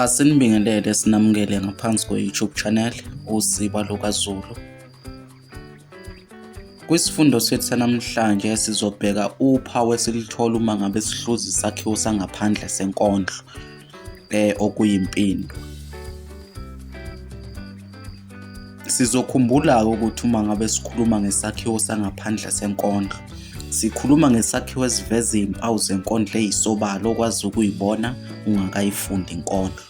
Asinibingelele sinamukele ngaphansi kwe-YouTube channel uZiba LukaZulu. Kwisifundo sethu sanamhlanje sizobheka uphawu esilithola uma ngabe sihluza isakhiwo sangaphandle senkondlo eh okuyimpini. Sizokhumbula-ke ukuthi uma ngabe sikhuluma ngesakhiwo sangaphandle senkondlo, sikhuluma ngesakhiwo esiveza izimpawu zenkondlo eyisobala okwazi ukuyibona ungakayifundi inkondlo.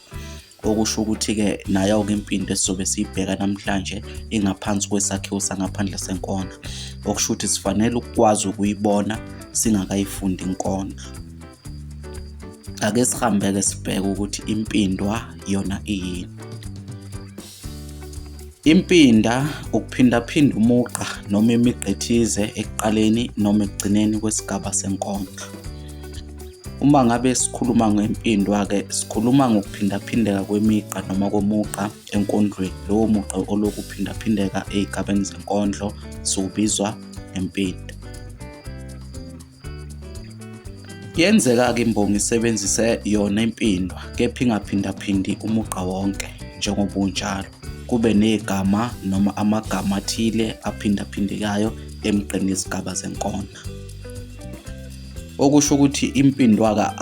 Okusho ukuthi-ke nayo-ke impinda esizobe siyibheka namhlanje ingaphansi kwesakhiwo sangaphandle senkondlo, okusho ukuthi sifanele ukukwazi ukuyibona singakayifundi inkondlo. ake sihambeke sibheke ukuthi impindwa yona iyini impinda ukuphindaphinda umugqa noma imigqa ethize ekuqaleni noma ekugcineni kwesigaba senkondlo uma ngabe sikhuluma ngempindwa-ke sikhuluma ngokuphindaphindeka kwemigqa noma komugqa enkondlweni lowo mugqa olokhu uphindaphindeka ey'gabeni zenkondlo siwubizwa ngempinda Yenzeka-ke imbongi isebenzise yona impindwa kepha ingaphindaphindi umugqa wonke njengoba unjalo. Kube negama noma amagama athile aphindaphindekayo emgqeni yezigaba zenkondlo. Okusho ukuthi impindwaka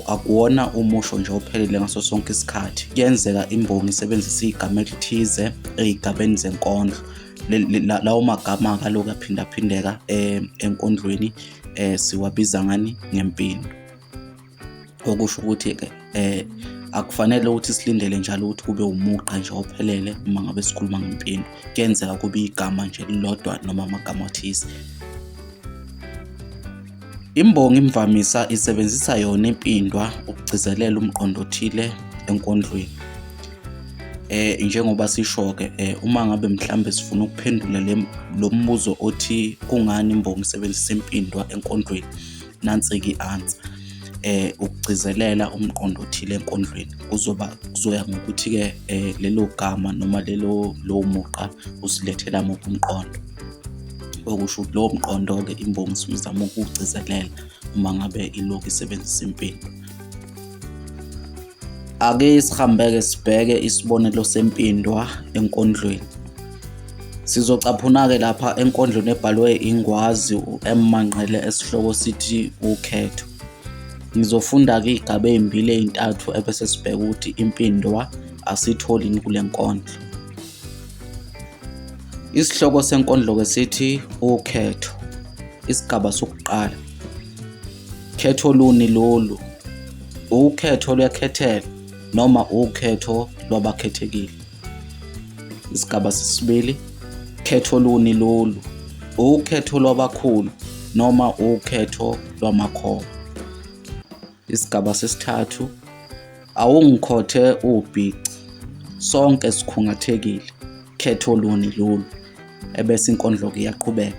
akuwona umusho nje ophelele ngaso sonke isikhathi. Kuyenzeka imbongi isebenzise igama elithize ey'gabeni zenkondlo. lawo magama kaloku aphindaphindeka eh, enkondlweni eh, siwabiza ngani ngempindu okusho ukuthi ke eh, akufanele ukuthi silindele njalo ukuthi kube umugqa nje ophelele uma ngabe sikhuluma ngempindu kuyenzeka kube igama nje lilodwa noma amagama athize Imbongi imvamisa isebenzisa yona impindwa ukugcizelela umqondo othile enkondlweni. Eh njengoba sisho-ke eh, uma ngabe mhlambe sifuna ukuphendula lo mbuzo othi kungani imbongi isebenzisa impindwa enkondlweni nansi-ke i-answer eh ukugcizelela umqondo othile enkondlweni kuzoba kuzoya ngokuthi ke eh, lelo gama noma lelo lowo mugqa usilethela muphi umqondo okusho ukuthi lowo mqondo-ke imbongi isuke izama ukuwugcizelela uma ngabe ilokhu isebenzisa impimbo ake sihambeke sibheke isibonelo sempindwa enkondlweni sizocaphuna-ke lapha enkondlweni ebhalwe ingwazi u-m manqele esihloko sithi ukhetho ngizofunda-ke iy'gaba ey'mbili ey'ntathu ebese sibheke ukuthi impindwa asiyitholini kule nkondlo Isihloko senkondlo-ke sithi ukhetho, isigaba sokuqala. Khetho luni lolu? Ukhetho lwekhethelo noma ukhetho lwabakhethekile? Isigaba sesibili, khetho luni lolu? Ukhetho lwabakhulu noma ukhetho lwamakhono? isigaba sesithathu awungikhothe ubhici sonke sikhungathekile khetho luni lolu ebese inkondlo ke iyaqhubeka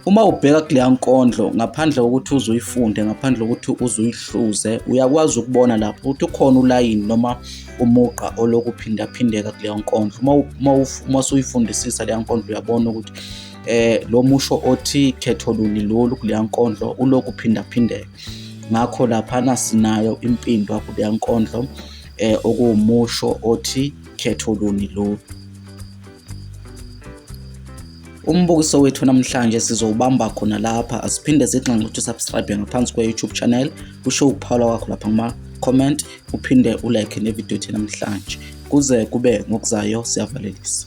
uma ubheka kuleya nkondlo ngaphandle kokuthi uze uyifunde ngaphandle kokuthi uze uyihluze uyakwazi ukubona lapho ukuthi ukhona ulayini noma umugqa oloku phindaphindeka kuleya nkondlo uma uma uma usuyifundisisa leya nkondlo uyabona ukuthi eh lo musho othi khetho luni lolu kuleya nkondlo uloku phindaphindeka ngakho laphana sinayo impindwa kuleya nkondlo um eh, okuwumusho othi khetho luni lolu umbukiso wethu namhlanje sizowubamba khona lapha asiphinde zigxinxe ukuthi usubscribe ngaphansi kwe-youtube channel usho ukuphawula kwakho lapha kuma-comment uphinde ulike nevidiyo ethe namhlanje kuze kube ngokuzayo siyavalelisa